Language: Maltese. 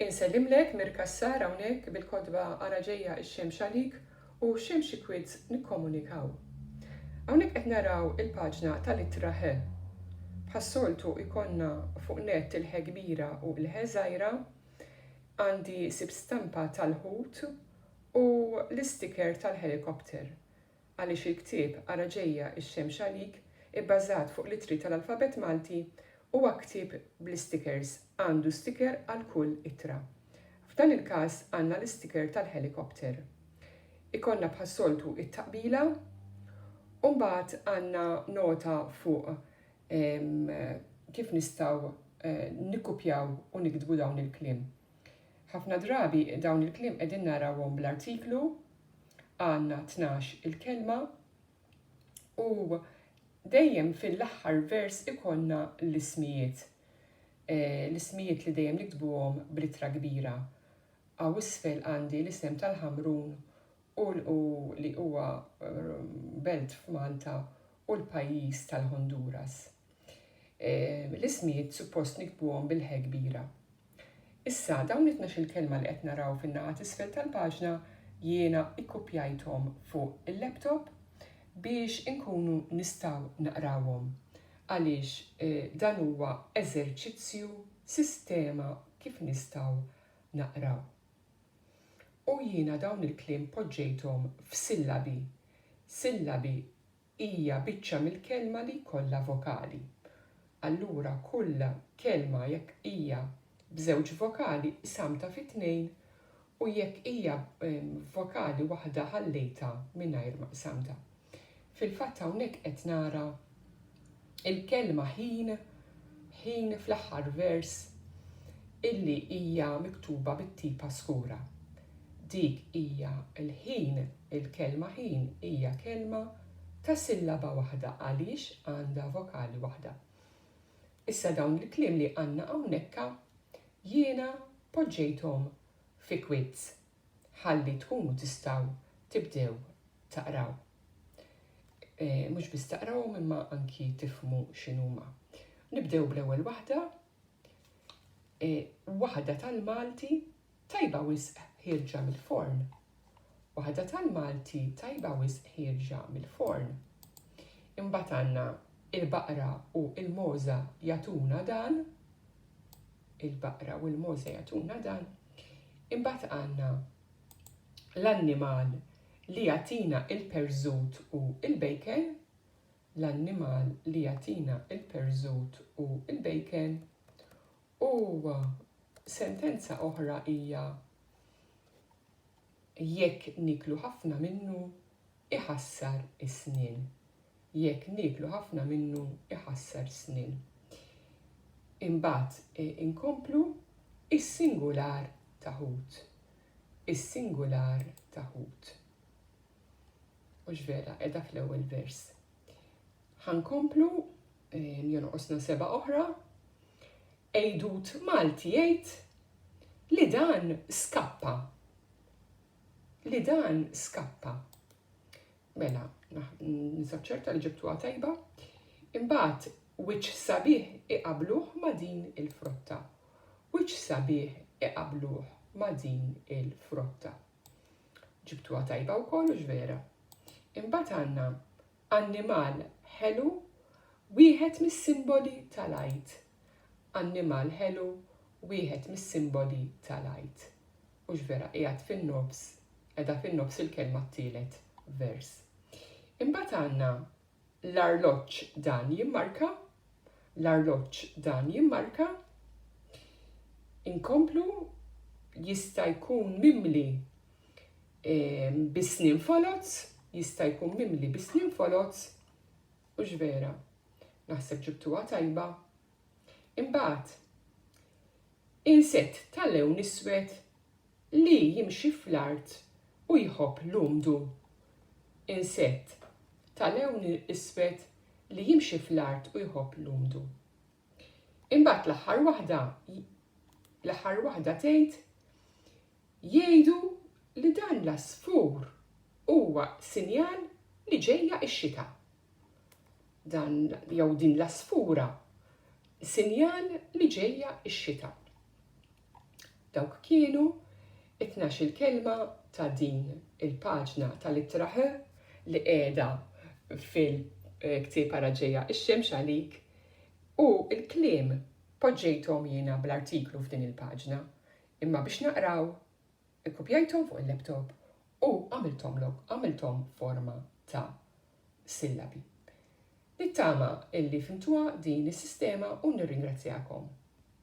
Insellimlek Mir Cassar hawnhekk bil-kotba Ara ġejja x-xemx għalik u Xemx ikwit nikkomunikaw. Hawnhekk qed naraw il-paġna tal-ittra Ħ. Bħas-soltu jkollna fuq nett il-Ħ kbira u il-Ħ żgħira, għandi sib stampa tal-ħut u l-isticker tal-helicopter. Għaliex il-ktieb Ara Ġejja x-Xemx Għalik, ibbażat fuq l-ittri tal-alfabett Malti, huwa ktieb bl-istikers, għandu stiker għal kull ittra. F'dan il-każ għandna l-istiker tal-ħelikopter. Ikollna bħas-soltu t-taqbila u mbagħad għandna nota fuq kif nistgħu nikkupjaw u niktbu dawn il-kliem. Ħafna drabi dawn il-kliem qegħdin narawhom bl-artiklu għandna tnax il-kelma u dejjem fil-aħħar vers ikollna l-ismijiet. E, l-ismijiet li dejjem niktbuhom b'littra kbira. Għaw isfel għandi l-isem tal-Ħamrun u li huwa eh, belt f'Malta u l-pajjiż tal-Honduras. L-ismijiet suppost nikbuhom bil-ħe kbira. Issa, dawn it-tnax-il kelma li qed naraw fin-naħa t'isfel tal-paġna jiena ikkupjajthom fuq il-laptop biex inkunu nistgħu naqrawhom għaliex dan huwa eżerċizzju, sistema kif nistgħu naqraw. U jiena dawn il-kliem poġġejthom f'sillabi, sillabi hija biċċa mill-kelma li jkollha vokali. Allura kull kelma jekk hija b'żewġ vokali qsamtha fi tnejn u jekk hija b'vokali waħda ħallejtha mingħajr ma qsamtha. Fil-fatt hawnhekk qed nara il-kelma ħin, ħin fl-aħħar vers, illi hija miktuba bit-tipa skura. Dik hija l-ħin, il-kelma ħin hija kelma ta' sillaba waħda għaliex għandha vokali waħda. Issa dawn il-kliem li għandna hawnhekk jiena poġġejthom fi kwits ħalli tkunu tistgħu tibdew taqraw. Mhux biss taqrawhom imma anki tifhmu x'inhuma. Nibdew bl-ewwel waħda. E, waħda tal-Malti tajba wisq ħirġa mill-forn. Waħda tal-Malti tajba wisq ħirġa mill-forn. Imbagħad għandna il-baqra u il-moża jatuna dan. il-baqra u l-mogħoż se jagħtuna dan. Imbagħad għandna l-annimal li jagħtina il-perżut u l-bejken, l-annimal li jagħtina il-perżut u l-bejken, u sentenza oħra hija Jekk nieklu ħafna minnu, iħassar is-snien. Jekk nieklu ħafna minnu, iħassar is-snien. Imbagħad inkomplu is-singular ta' ħut. Is-singular ta' ħut. Mhux vera, qiegħda fl-ewwel vers. Ħankomplu jonqosna seba' oħra, Għidut Malti jgħid li dan skappa. Li dan skappa. Mela, nisab ċerta li ġibtuha tajba. Imbagħad wiċċ sabiħ iqabluh ma' din il-frotta. Wiċċ sabiħ iqabluh ma' din il-frotta. Ġibtuha tajba wkoll u vera. Imbagħad għandna annimal ħelu wieħed mis-simboli tal-għid Annimal ħelu, wieħed mis-simboli tal-Għid. Hux vera, qiegħed fin-nofs, qiegħda fin-nofs il-kelma t-tielet vers. Imbagħad għandna l-arloġġ dan jimmarka, l-arloġġ dan jimmarka, inkomplu jista' jkun mimli ehm, bis-snin foloz, jista' jkun mimli bis-snin foloz, Hux vera? Naħseb ġibtuha tajba. Imbagħad, insett ta' lewn iswed li jimxi fl-art u jħobb l-umdu. Insett ta' lewn iswed li jimxi fl-art u jħobb l-umdu. Imbagħad l-aħħar waħda l-aħħar waħda tgħid jgħidu li dan l-għasfur huwa sinjal li ġejja x-xita. Dan jew din l-għasfura sinjal li ġejja x-xita. Dawk kienu t-tnax-il kelma ta' din il-paġna tal-Ittra H li qiegħda fil-ktieb Ara Ġejja x-Xemx Għalik u l-kliem poġġejthom jiena bl-artiklu f'din il-paġna, imma biex naqraw ikkupjajthom fuq il-laptop u għamilthom forma ta' sillabi. Nittama illi fhimtuha din is-sistema u nirringrazzjakom.